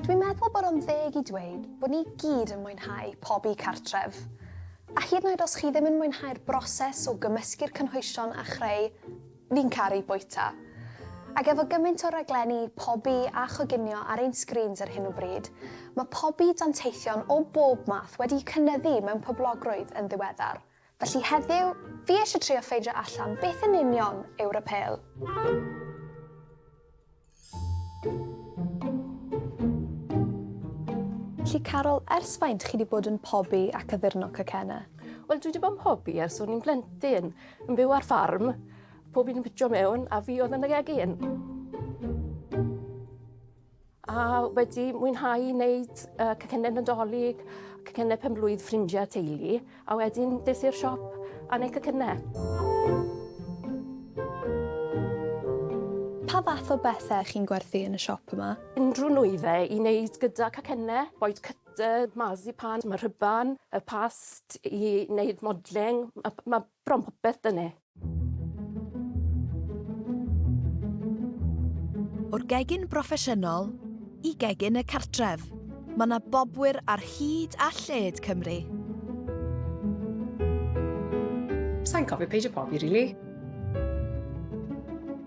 Dwi'n meddwl bod o'n ddeg i dweud bod ni gyd yn mwynhau pobi cartref. A hyd yn oed os chi ddim yn mwynhau'r broses o gymysgu'r cynhwysion a chreu, fi'n caru bwyta. Ac efo gymaint o raglenni pobi a choginio ar ein sgrîns ar hyn o bryd, mae pobi danteithion o bob math wedi cynyddu mewn poblogrwydd yn ddiweddar. Felly heddiw, fi eisiau trio ffeindio allan beth yn union yw rapel. Felly Carol, ers faint chi wedi bod yn pobi ac addurno cacenna? Wel, dwi wedi bod yn pobi ers o'n i'n blentyn, yn byw ar ffarm, pob un yn pitio mewn, a fi oedd yn y gegin. A wedi mwynhau wneud uh, cacennau Nadolig, cacennau penblwydd ffrindiau teulu, a wedyn des i'r siop a wneud cacennau. Pa fath o bethau chi'n gwerthu yn y siop yma? Unrhyw nwyddau i wneud gyda cacennau, boed cyt y marzipan, mae'r rhyban, y past i wneud modling. Mae ma Bron popeth, dyne. O'r gegin broffesiynol i gegin y cartref, mae 'na bobwyr ar hyd a lled Cymru. Sa i'n cofio peidio pobi rili.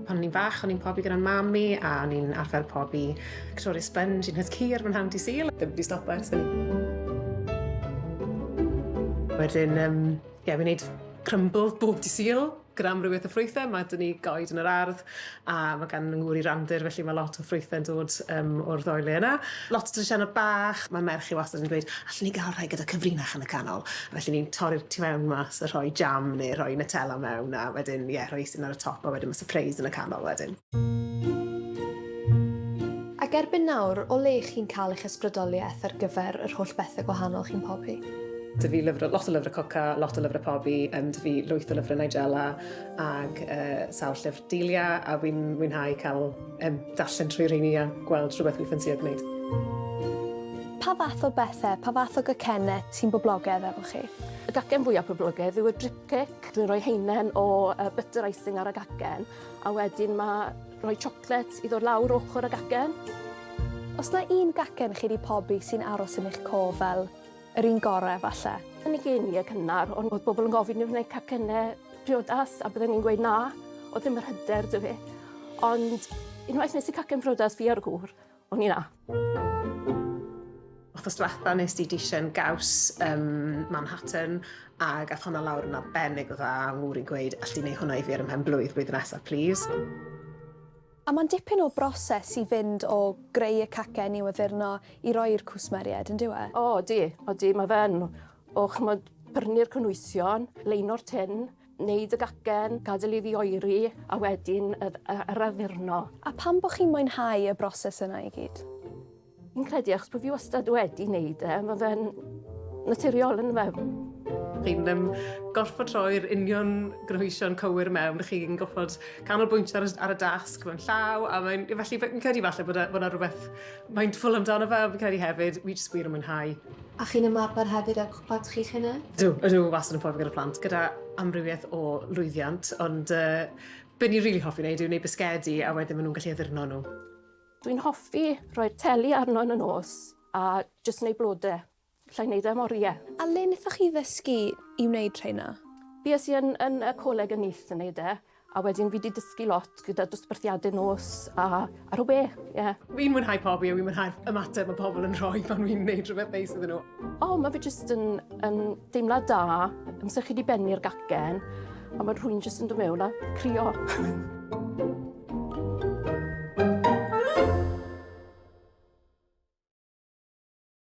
Pan o'n i'n fach o'n i'n pobi gyda'n mam i a o'n i'n arfer pobi Victoria Sponge un hys cur fy nhad 'di Sul. Ddim 'di stopo ers hynny. Wedyn yym Ie, yeah, we need crumble bob di syl gyda amrywiaeth o ffrwythau. Mae dyn ni goed yn yr ardd a mae gan ngŵr i randir, felly mae lot o ffrwythau'n dod um, o'r ddoi le yna. Lot o drisianau bach, mae merch i wastad yn dweud, allan ni gael rhai gyda cyfrinach yn y canol. Felly ni'n torri'r tu mewn mas a rhoi jam neu rhoi Nutella mewn a wedyn, ie, yeah, rhoi sy'n ar y top a wedyn mae surprise yn y canol wedyn. Ac erbyn nawr, o le chi'n cael eich ysbrydoliaeth ar gyfer yr holl bethau gwahanol chi'n pobi? Dw i lyfr, lot o lyfrau coca, lot o lyfrau pobi, um, dw i lwyth o lyfrau Nigella ac uh, sawl llyfr Delia a wy'n mwynhau cael um, darllen trwy rheini a gweld rhywbeth wy'n ffansio gwneud. Pa fath o bethau, pa fath o gacennau ti'n boblogedd efo chi? Y gacen fwyaf poblogedd yw y drip cake. Dwi'n rhoi heinen o uh, butter icing ar y gacen a wedyn mae Rhoi chocolate iddo lawr ochr y gacen. Os na un gacen chi 'di pobi sy'n aros yn eich cof fel yr un gore falle. Yn y geinie cynnar on' o'dd bobol yn gofyn i fi wneud cacenne priodas a bydden i'n gweud na, o'dd ddim yr hyder 'da fi. Ond unwaith nes i cacen priodas fi a'r gŵr, O'n i 'na. Wthnos dwetha nes di dishyn gaws ym Manhattan ag ath honna lawr yn arbennig o dda a ngŵr i'n gweud all di neu hwnna i fi ar ym mhen-blwydd blwyddyn nesa plîs. A mae'n dipyn o broses i fynd o greu y cacen i'w addurno i roi i'r cwsmeriaid, yndyw e? O, odi, odi, mae fe yn. O ch'mod, prynu'r cynhwysion, leino'r tin, Neud y gacen, gadael iddi oeri a wedyn yr addurno. A pam bo chi'n mwynhau y broses yna i gyd? Fi'n credu achos bo fi wastad wedi neud e, ma fe'n naturiol on'd yw e? Chi'n yym gorffod rhoi'r union gynhwysion cywir mewn, chi'n gorffod canolbwyntio ar y ar y dasg mewn llaw a mae'n felly fi'n credu falle bod e bod 'na rwbeth mindful amdano fe fi'n credu hefyd, fi jyst wir yn mwynhau. A chi'n ymarfer hefyd â'r cwpad chi'ch hunain? Ydw, ydw, wastad yn pofi gyda plant, gyda amrywiaeth o lwyddiant, ond uh, be ni'n rili really hoffi wneud yw wneud bisgedi a wedyn maen nhw'n gallu addurno nhw. Dwi'n hoffi rhoi'r teli arno yn y nos a jyst wneud blodau. Alla i wneud e am oriau. A le wnaethoch chi ddysgu i wneud rheina? Bues i yn yn y coleg yn Neath yn wneud e, a wedyn fi 'di dysgu lot gyda dosbarthiadau nos a ar y we, ie. Fi'n mwynhau pobi a fi'n mwynhau'r ymateb mae pobl yn rhoi pan fi'n wneud rhywbeth neis iddyn nhw. O, mae fe jyst yn yn deimlad da, amser chi 'di bennu'r gacen a mae rhywun jyst yn dod mewn a crio.